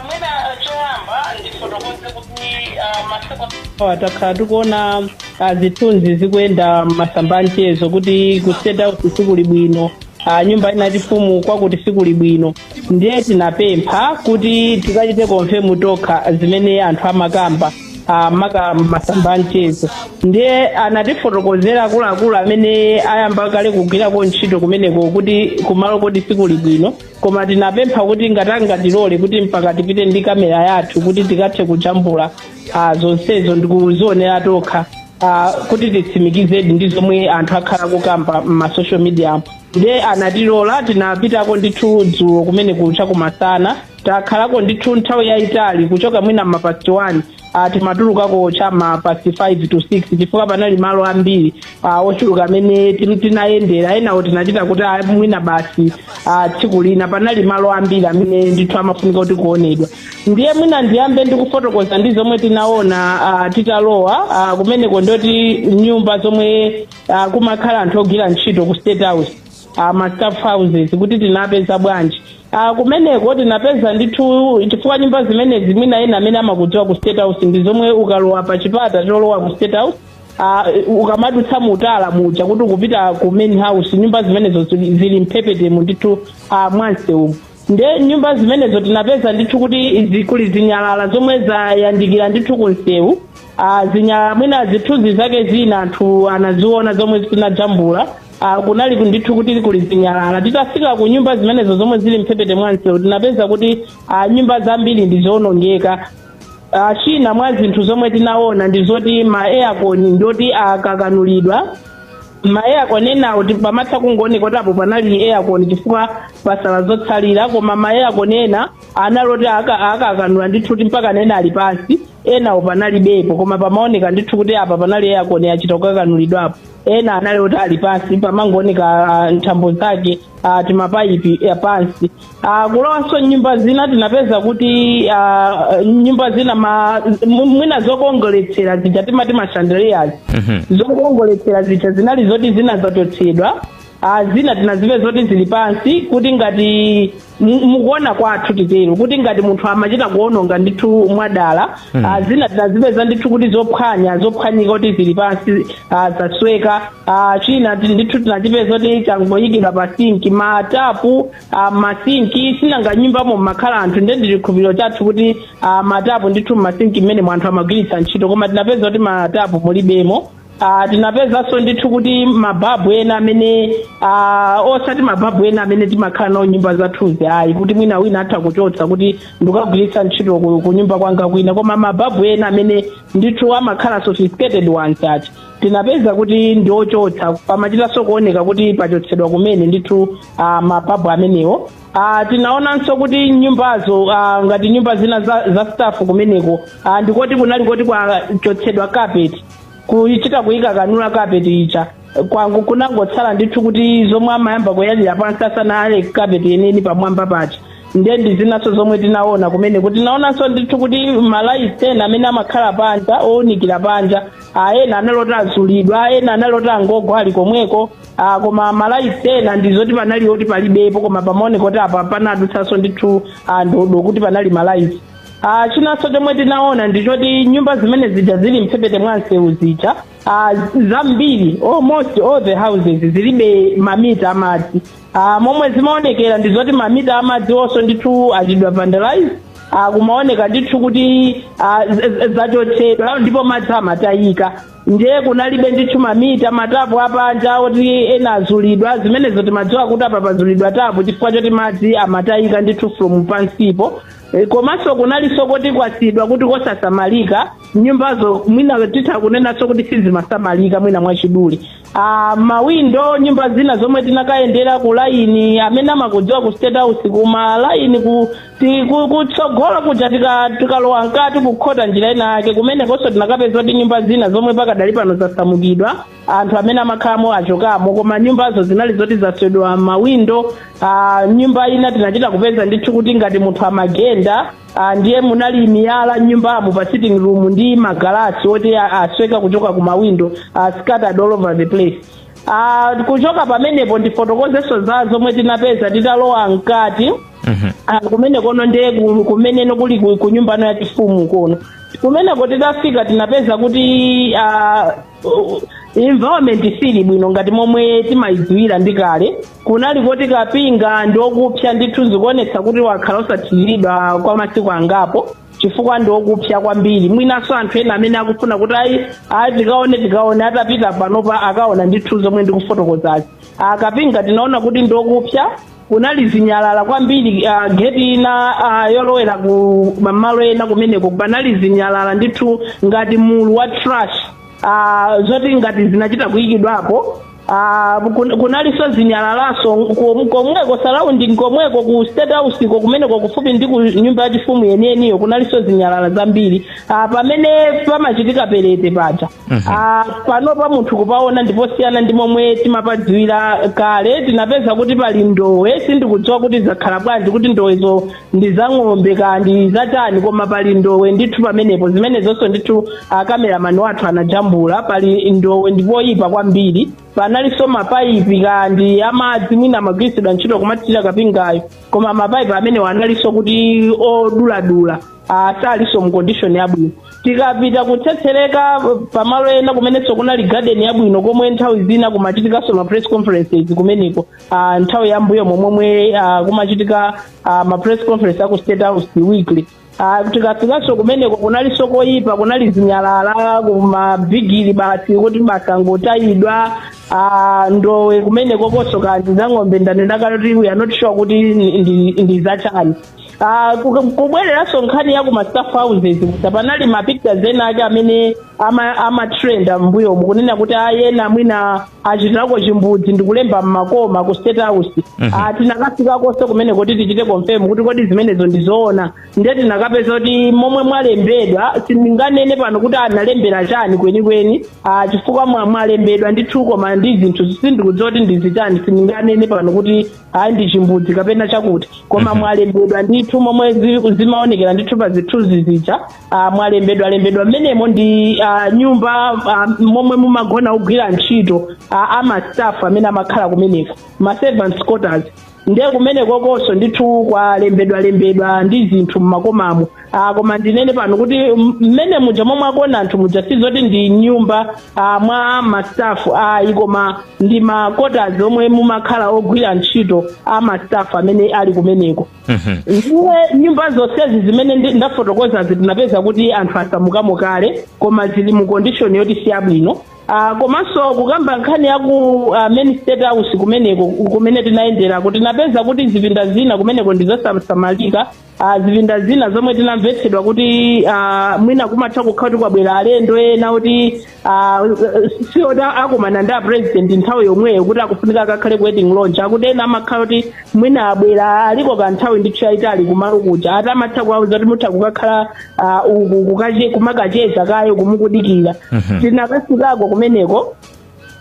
mwina choyamba ndifotokoze kuti ah, masiku awa takhala tikuona ah, zithunzi zikuyenda mmasamba anchezo kuti ku state house sikuli bwino ah, nyumba inati fumu kwakuti sikuli bwino ndiye tinapempha kuti tikachite konfemu tokha zimene anthu amakamba ah, maka mmasamba anchezo ndiye anatifotokozera akuluakulu amene ayamba kale kugwirako ntchito kumeneko kuti kumalo koti sikuli bwino koma tinapempha kuti ngati angatilole kuti mpaka tipite ndi kamera yathu kuti tikathe kujambula ah, zonsezo ndikuzionera tokha ah, kuti titsimikizedi ndi zomwe anthu akhala kukamba m'masocial media nde anatilola tinapitako ndithu dzulo kumene kucha kumasana takhalako ndithu nthawi yayitali kuchoka mwina mapasti 1 uh, timatulukako chama past 5 to 6 chifukwa panali malo ambiri uh, ochuluka amene tin- tinayendera enawo tinachita kuti ah, mwina basi uh, tsiku lina panali malo ambiri amene ndithu amafunika kuti kuonedwa ndiye mwina ndiyambe ndikufotokoza ndi zomwe tinaona uh, titalowa uh, kumeneko ndoti nyumba zomwe uh, kumakhala anthu ogwira ntchito ku state house a ma staff houses kuti tinapeza bwanji a kumeneko tinapeza ndithu chifukwa nyumba zimenezi mwina ena amene amakudziwa ku state house ndi zomwe ukalowa pa chipata cholowa ku state house a, ukamadutsa mutala muja kuti ukupita ku main house nyumba zimenezo zili zili mphepetemo ndithu a mwa nseumu nde nyumba zimenezo tinapeza ndithu kuti zikuli zinyalala zomwe zayandikira ndithu kunsewu Ah, zinyalala mwina zithunzi zake zina anthu anaziona zomwe zinajambula Ah, kunali ku- ndithu kuti kuli zinyalala titafika ku nyumba zimenezo zomwe zili mphepete mwansewu tinapeza kuti ah, nyumba zambiri ndizoonongeka Ah, china mwa zinthu zomwe tinaona ndi zoti ma aircon ndoti akakanulidwa ma aircon enawo ti- pamatha kungooneka kuti apo panali aircon chifukwa pasala zotsalira koma ma aircon ena anali oti aka- akakanula ndithu kuti mpaka nena ali pansi enawo panalibepo koma pamaoneka ndithu kuti apa panali aircon achita kukakanulidwapo ena anali oti ali pansi pamangooneka ah, nthambo zake ah, timapayipi apansi Uh, kulowanso mnyumba zina tinapeza kuti uh, nyumba zina ma, mu- mwina zokongoletsera zija timati mashandeliers zokongoletsera zija zinali zoti zina zachotsedwa uh, zina tinazipeza zoti zili pansi kuti ngati mu- mukuona kwathu titero kuti ngati munthu amachita kuononga ndithu mwadala Ah, zina tinazipeza ndithu kuti zophwanya zophwanyika kuti zili pansi ah, zasweka Ah, china ti- ndithu tinachipeza kuti changoyikidwa pa sinki matapu ah, mmasinki sinanga nyumbamo mmakhala anthu nde ndi chikhulupiriro chathu kuti ah, matapu ndithu mmasinki mmene anthu amagwiritsa ntchito koma tinapeza kuti matapu mulibemo Ah, tinapezanso ndithu kuti mababu ena amene ah, osati mababu ena amene timakhala nawo m'nyumba zathuzi ayi kuti mwina wina atha kuchotsa kuti ndikagwiritsa ntchito ku, ku nyumba kwanga kwina koma mababu ena amene ndithu amakhala sophisticated ones ati tinapeza kuti ndi ochotsa pamachitanso kuoneka kuti pachotsedwa kumene ndithu ah, mababu amenewo Ah, tinaonanso kuti nyumbazo ah, ngati nyumba zina za, za staff kumeneko ah, ndikoti kunali koti kwachotsedwa carpet kuchita kuyikakanula kapeti ija kunangotsala ndithu kuti zomwe amayamba kuyalira pansi asanayale kapeti yeniyeni pamwamba paja ndiye ndi zinanso zomwe tinaona kumeneko tinaonanso ndithu kuti malaiti ena amene amakhala panja owunikira panja ah, ena anali oti azulidwa ah, ena anali oti angogwa ali komweko ah, koma malaiti ena ndi zoti panali oti palibepo koma pamaoneka kuti apa panadutsanso ndithu kuti panali malaiti Ah, chinanso chomwe tinaona ndi choti nyumba zimene zija zili mphepete mwa msewu zija ah, zambiri almost all the houses zilibe mamita amadzi ah, momwe zimaonekera ndi zoti mamita amadziwonso ndithu achitidwa vandalize ah, kumaoneka ndithu kuti ah, z- z- zachotsedwa ndipo madzi amatayika ndiye kunalibe ndithu mamita matapu apanja oti ena azulidwa zimenezo timadziwa kuti apa pazulidwa tapu chifukwa choti madzi amatayika ndithu from pansipo E, komanso kunalinso koti kwasiyidwa kuti kosasamalika nyumbazo mwina titha kunenanso kuti sizimasamalika mwina mwachidule ah, mawindo nyumba zina zomwe tinakayendera ku laini amene amakudziwa ku state house kuma laini ku ti- ku- kutsogolo kuja tika- tikalowa mkati kukhota njira ina yake kumenekonso tinakapeza kuti nyumba zina zomwe pakadali pano zasamukidwa anthu amene amakhalamo achokamo koma nyumbazo zinali zoti zaswedwa mawindo ah, m'nyumba ina tinachita kupeza ndithu kuti ngati munthu amagenda ah, ndiye munali miyala m'nyumbamo pa sitting room ndi magalasi oti a- asweka kuchoka ku mawindo ah, scattered all over the place Ah, kuchoka pamenepo ndifotokozenso za zomwe tinapeza titalowa mkati Ah, kumene kono ndiye ku- kumeneno kuli ku- ku nyumbano ya chifumu kono kumeneko titafika tinapeza kuti ah, uh, environment siili bwino ngati momwe timayidziwira ndi kale kunali koti kapinga ndi okupsa ndithu zikuonetsa kuti wakhala osathiriridwa kwa masiku angapo chifukwa ndi okupsa kwambiri mwinanso anthu ena amene akufuna kuti ayi ayi tikaone tikaone atapita panopa akaona ndithu zomwe ndikufotokozazi akapinga tinaona kuti ndi okupsa kunali zinyalala kwambiri uh, geti ina uh, yolowera ku mamalo ena kumeneko panali zinyalala ndithu ngati mulu wa trash uh, zoti ngati zinachita kuyikidwapo Uh, kun- kunalinso zinyalalanso kom- komweko surrounding komweko ku state house ko kumeneko kufupi ndi ku nyumba yachifumu yeniyeniyo kunalinso zinyalala zambiri Ah, pamene pamachitika perete paja Ah, panopa munthu kupaona ndiposiyana ndi momwe timapadziwira kale tinapeza kuti pali ndowe sindikudziwa kuti zakhala bwanji kuti ndowezo ndi za ng'ombe ka ndi zatani koma pali ndowe ndithu pamenepo zimenezonso ndithu akameramani wathu anajambula pali ndowe ndipoyipa kwambiri panalinso mapaipi ka ndi amadzi mwina amagwiritsidwa ntchito kumathirira kapingayo koma mapaipi amenewo analinso kuti oduladula Ah, salinso mu condition yabwino tikapita kutsetsereka pamalo ena kumenenso kunali garden yabwino komwe nthawi zina kumachitikanso ma press conferences kumeneko ah, nthawi yambuyo momwe ah, kumachitika ah, ma press conference aku state house weekly Ah, tikafikanso kumeneko kunaliso koyipa kunali zinyalala kumabrigidi basi kuti zangotayidwa ah, ndowe kumenekokonso ka ndi za ng'ombe ndanena kuti we are not sure kuti ndi- ndi- ndi zachani Ah, ku- kubwereranso nkhani ya kuma staff houses kusa panali ma pictures ena ake amene ama- amatrenda mbuyomu kunena kuti ena mwina achitirako chimbudzi ndikulemba mmakoma ku state house Ah, tinakafikakonso kumeneko kuti tichite confirm kuti kodi zimenezo ndizoona ndiye tinakapeza kuti momwe mwalembedwa sindinganene pano kuti analembera chani kwenikweni Ah, chifukwa mwa- mwalembedwa ndithu koma ndi zinthu sindikudziwa kuti ndizichani sindinganene pano kuti ayi ndi chimbudzi kapena chakuti koma mwalembedwa ndithu momwe zi- zimaonekera ndithu pa zithunzi zija ah, mwalembedwa lembedwa mmenemo ndi ah, nyumba ah, momwe mumagona ogwira ntchito ah, amastaff amene amakhala kumeneko ma servants quarters ndiye kumenekokonso ndithu kwalembedwa lembedwa ndi zinthu mmakomamo Ah, koma ndinene pano kuti m- mmene muja momwe akuona anthu muja si zoti ndi nyumba ah, mwa ma staff ayi koma ndi ma quarters omwe mumakhala ogwira ntchito a ma staff amene ali kumeneko Mhm. ndiye nyumba zonsezi zimene ndi- ndafotokozazi tinapeza kuti anthu asamukamo kale koma zili mu condition yoti si yabwino Ah, komanso kukamba nkhani ya ku ah, main state house kumeneko kumene tinayenderako tinapeza kuti zipinda zina kumeneko ndi zosasamalika Ah, zipinda zina zomwe tinamvetsedwa kuti ah, mwina kumatha kukhala kuti kwabwera alendo ena kuti ah, si oti akumana ndi apresident nthawi yomweyo kuti akufunika akakhale ku waiting lodge akuti ena amakhala kuti mwina abwera aliko ka nthawi ndithu yayitali kumalo kuja ati amatha kuwauza kuti mutha kukakhala ah, uku kukache- kumakacheza kayeko mukudikira tinakafikako kumeneko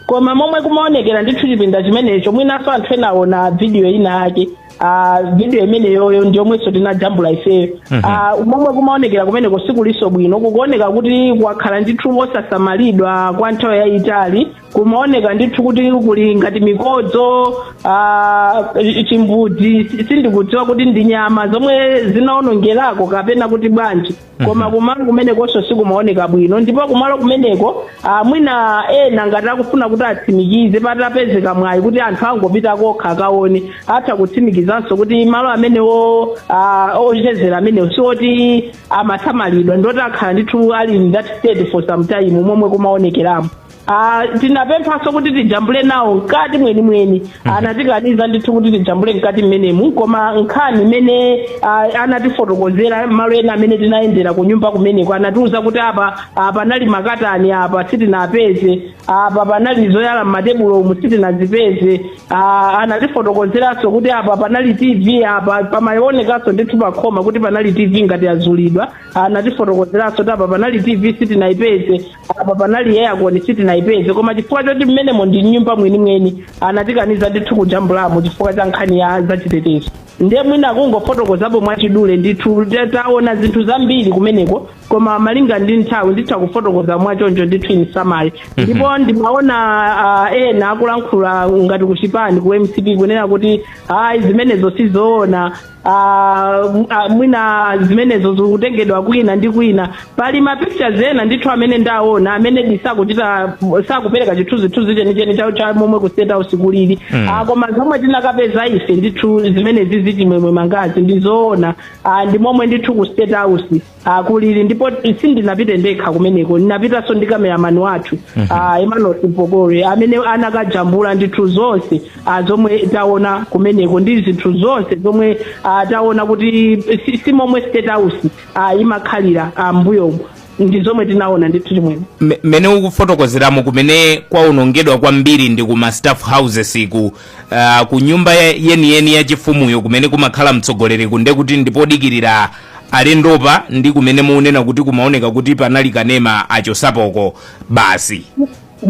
koma momwe kumaonekera ndithu chipinda chimenecho mwinanso anthu ena aona vidiyo ina yake ah, vidiyo imeneyoyo ndi yomwenso tinajambula ifeyo Ah, momwe kumaonekera kumeneko sikulinso bwino kukuoneka kuti kwakhala ndithu osasamalidwa kwa nthawi yayitali kumaoneka ndithu kuti kuli ngati mikodzo ah, chimbudzi si- sindikudziwa kuti ndi nyama zomwe zinaonongerako kapena kuti bwanji koma mhm. kumalo kumenekonso sikumaoneka bwino ndipo kumalo kumeneko ah, mwina ena ngati akufuna kuti atsimikize patapezeka mwayi kuti anthu angopita kokha akaone atha kutsimikizanso kuti malo amenewo ah, ochezera amenewo si oti amasamalidwa ndi oti akhala ndithu ali in that state for some time momwe kumaonekeramo Ah, tinapemphanso kuti tijambule nawo mkati mwenimweni anatikaniza ndithu kuti tijambule mkati mmenemu koma nkhani imene ah, anatifotokozera malo ena amene tinayendera ku nyumba kumeneko anatiuza kuti apa ah, panali makatani apa sitinapeze apa panali zoyala m'matebulo umu sitinazipeze ah, anatifotokozeranso kuti apa panali tv apa pamaonekanso ndithu pakhoma kuti panali tv ngati yazulidwa anatifotokozeranso kuti apa panali tv sitinayipeze apa panali aircon sitinayipeze koma chifukwa choti mmenemo ndi nyumba mwenimweni anatikaniza ndithu kujambulamo chifukwa cha nkhani ya zachitetezo ndiye mwina kungofotokozapo mwachidule ndithu ta- taona zinthu zambiri kumeneko koma malinga ndi nthawi nditha kufotokoza mwachoncho ndithu in summary ndipo ndimaona ah, ena akulankhula ngati kuchipani ku mcp kunena kuti ayi zimenezo sizoona Ah, m- ah, mwina zimenezo zikutengedwa kwina ndi kwina pali ma pictures ena ndithu amene ndaona amene disakuchita sakupereka chithunzithunzi chenicheni cha- cha momwe ku state house kulili Mm. Ah, koma zomwe tinakapeza ife ndithu zimenezi Chimwemwe Mangazi ndizoona Ah, ndi momwe ndithu ku state house kulili ndipo sindinapite ndekha kumeneko ndinapitanso ndi kameramani wathu ah, emmanuel Mpokole amene anakajambula ndithu zonse ah, zomwe taona kumeneko ndi zinthu zonse zomwe ah, taona kuti si- si momwe state house ah, imakhalira ah, mbuyomo ndi zomwe tinaona ndithu Chimwemwe Me- mmene ukufotokozeramo kumene kwaonongedwa kwambiri ndi ku ma staff houses ku uh, ku nyumba ya- yeniyeni ya chifumuyo kumene kumakhala mtsogoleri kungoti kuti ndipodikirira alendopa ndi kumene mukunena kuti kumaoneka kuti panali kanema achosapoko basi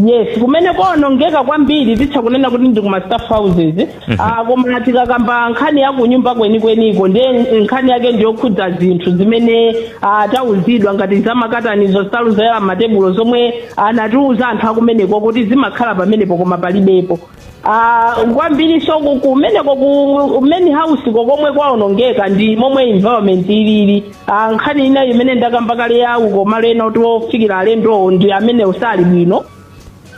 yes kumene kwaonongeka kwambiri titha kunena kuti ndi kuma staff houses Ah, koma tikakamba nkhani ya kunyumba kwenikweniko ndiye nkhani yake ndiyokhudza zinthu zimene ah, tauzidwa ngati zamakatanizo nsalu zoyala m'matebulo zomwe anatiuza anthu akumeneko kuti zimakhala pamenepo koma palibepo Ah, kwambiri so ku- kumeneko ku main house ko komwe kwaonongeka ndi momwe environment ilili Ah, nkhani inayo imene ndakamba kale ya kumalo enawo ofikira alendowo ndi amene sali bwino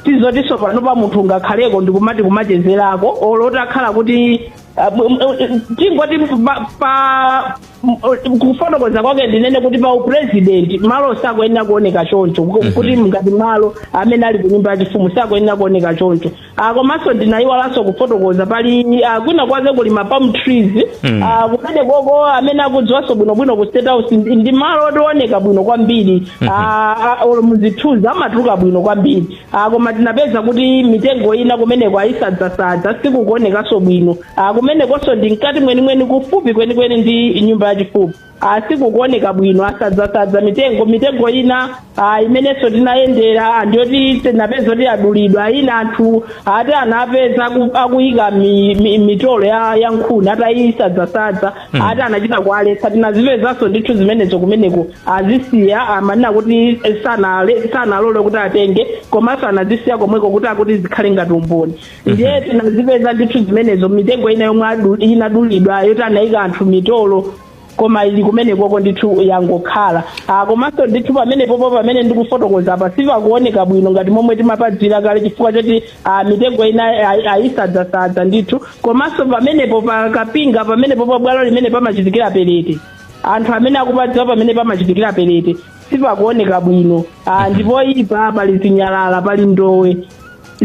sizotinso pano pa munthu angakhaleko ndikumati kumachezerako olo takhala kuti ah, m- m- tingoti pa- pa M- kufotokoza kwake ndinene kuti pa upresident malo sakuyenera kuoneka choncho ku- kuti ngati malo amene ali kunyumba yachifumu sakuyenera kuoneka choncho Ah, komanso ndinayiwalanso kufotokoza pali ah, kwina kwake kuli ma palm trees Mm. Ah, kumene koko amene akudziwanso bwinobwino ku state house ndi ndi malo oti ooneka bwino kwambiri Ah, ah, olo muzithunzi amatuluka bwino kwambiri Ah, koma tinapeza kuti mitengo ina kumeneko ayisadzasadza sikukuonekanso bwino Ah, kumenekonso ndi mkati mwenimweni kufupi kwenikweni ndi nyumba yachifumu ah, sikukuoneka bwino asadzasadza mitengo mitengo ina ah, imenenso tinayendera ah, ndiyoti tinapeza kuti adulidwa ina anthu ati anapeza aku- akuyika mi- mi- mitolo ya ya nkhuni atayisadzasadza Mm. ati anachita kualetsa tinazipezanso ndithu zimenezo kumeneko azisiya amanena kuti sanale- sanalole kuti atenge komanso anazisiya komweko kuti akuti zikhale ngati umboni ndiye tinazipeza ndithu zimenezo mitengo ina yomwe adu- inadulidwa yoti anayika anthu mitolo koma ili kumenekoko ndithu yangokhala ah, komanso ndithu pamenepopo pamene ndikufotokoza apa sipakuoneka bwino ngati momwe timapadziwira kale chifukwa choti ah, mitengo ina ayi- ayisadzasadza ndithu komanso pamenepo pa kapinga pamenepo pa bwalo limene pamachitikira perete anthu amene akupadziwa pamene pamachitikira perete sipakuoneka bwino ah, ndipo apa pali zinyalala pali ndowe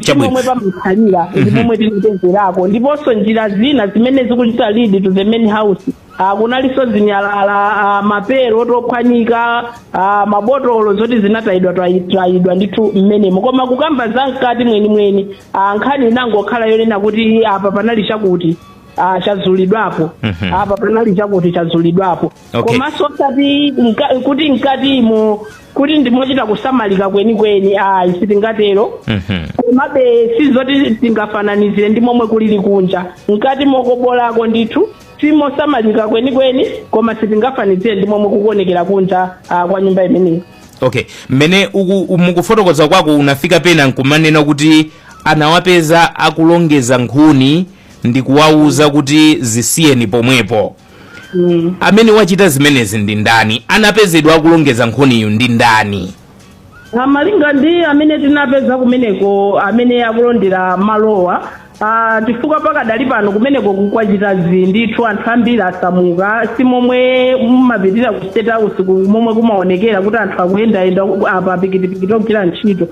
si momwe pamakhalira ndi momwe tinapezerako ndiponso njira zina zimene zikuchita lead to the main house Ah, kunalinso zinyalala ah, mapero oti ophwanyika ah, mabotolo zoti zinatayidwa twayi- twayidwa ndithu mmenemo koma kukamba za mkati mwenimweni ah, nkhani inangokhala yonena kuti apa panali chakuti ah, chazulidwapo Mhm. apa panali chakuti chazulidwapo Okay. komanso osati mka- kuti mkatimo kuti ndimochita kusamalika kwenikweni ayi sitingatero Mhm. komabe sizoti tingafananizire ndi momwe kulili kunja mkatimo koma bolako ndithu simosamalika kwenikweni koma sitingafananizire ndi momwe kukuonekera kunja ah, kwa nyumba imeneyi okay mmene uku- mukufotokoza kwako unafika pena nkumanena kuti anawapeza akulongeza nkhuni ndi kuwawuza kuti zisiyeni pomwepo amene wachita zimenezi ndi ndani anapezedwa akulongeza nkhuniyo ndi ndani Ah, malinga ndi amene tinapeza kumeneko amene akulondera malowa ah, chifukwa pakadali pano kumeneko kukuchita zii ndithu anthu ambiri asamuka si momwe mumapitira ku state house ku- momwe kumaonekera kuti anthu akuyendayenda apa pikitipikiti ogwira ntchito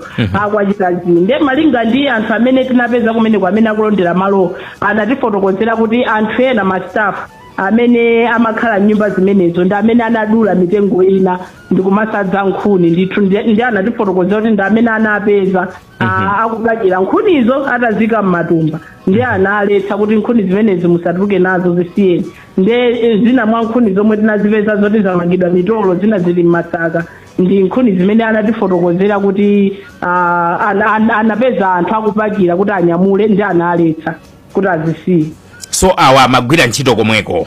kwachita zii nde malinga ndi anthu amene tinapeza kumeneko amene akulondera malowa Anatifotokozera kuti anthu ena masitafu amene amakhala m'nyumba zimenezo ndi amene anadula mitengo ina ndi kumawaza nkhuni ndithu ndi ndi anatifotokozera kuti ndi amene anapeza a- akupakira nkhunizo ataziika m'matumba ndi analetsa kuti nkhuni zimenezi musatuluke nazo zisiyeni ndi eh, zina mwa nkhuni zomwe tinazipeza zoti zamangidwa mitolo zina zili m'masaka ndi nkhuni zimene anatifotokozera kuti ah, an- an- anapeza anthu akupakira kuti anyamule ndi analetsa kuti azisiye so awa amagwira ntchito komweko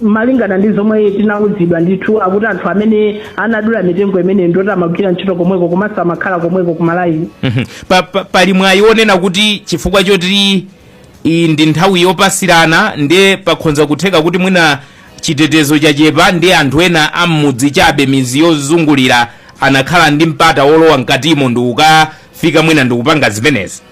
malingana ndi zomwe tinawuzidwa ndithu akuti anthu amene anadula mitengo imeneyi ndi oti amagwira ntchito komweko komanso amakhala komweko kumalaini Mhm. Pa- pa- pali mwayi wonena kuti chifukwa choti iyi ndi nthawi yopasirana nde pakhonza kutheka kuti mwina Chitetezo chachepa ndi anthu ena a m'mudzi chabe midzi yozungulira anakhala ndi mpata wolowa mkatimo ndikukafika mwina ndikupanga zimenezi.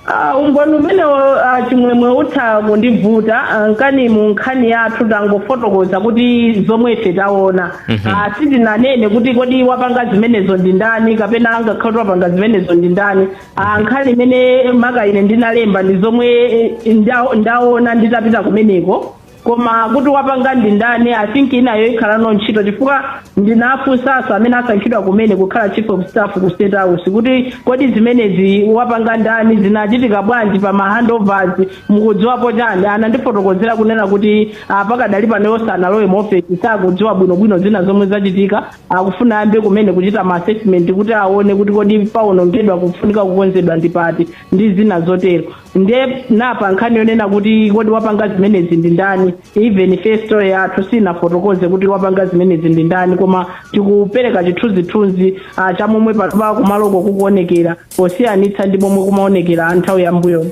Ah, umboni umenewo ah, Chimwemwe utha kundivuta ah, nkani mu nkhani yathu tangofotokoza kuti zomwe ife taona Ah, sitinanene kuti kodi wapanga zimenezo ndi ndani kapena angakhale kuti wapanga zimenezo ndi ndani Ah, nkhani imene maka ine ndinalemba ndi zomwe eh, nda- ndaona nditapita kumeneko koma kuti wapanga ndi ndani i think imeneyo ikhalano ntchito chifukwa ndinafunsanso amene asankhidwa kumene kukhala chief of staff ku State House kuti kodi zimenezi wapanga ndani zinachitika bwanji pa ma handovers mukudziwapo chani anandifotokozera kunena kuti ah, pakadali pano iwo sanalowe mu ofesi sakudziwa bwinobwino zina zomwe zachitika akufuna ayambe kumene kuchita ma assessment kuti aone kuti kodi paonongedwa kufunika kukonzedwa ndi pati ndi zina zotero nde nde pa nkhani yonena kuti kodi wapanga zimenezi ndi ndani even ife story yathu siinafotokoze kuti wapanga zimenezi ndi ndani koma tikupereka chithunzithunzi ah, cha momwe patupa kumaloko kukuonekera posiyanitsa ndi momwe kumaonekera nthawi ya mbuyo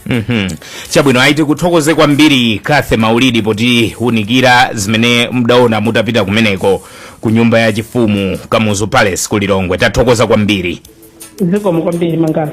Mhm. chabwino ayi tikuthokoze kwambiri Cathy Maulidi potiunikira zimene mudaona mutapita kumeneko ku nyumba ya chifumu Kamuzu Palace ku Lilongwe tathokoza kwambiri zikomo kwambiri Mwangazi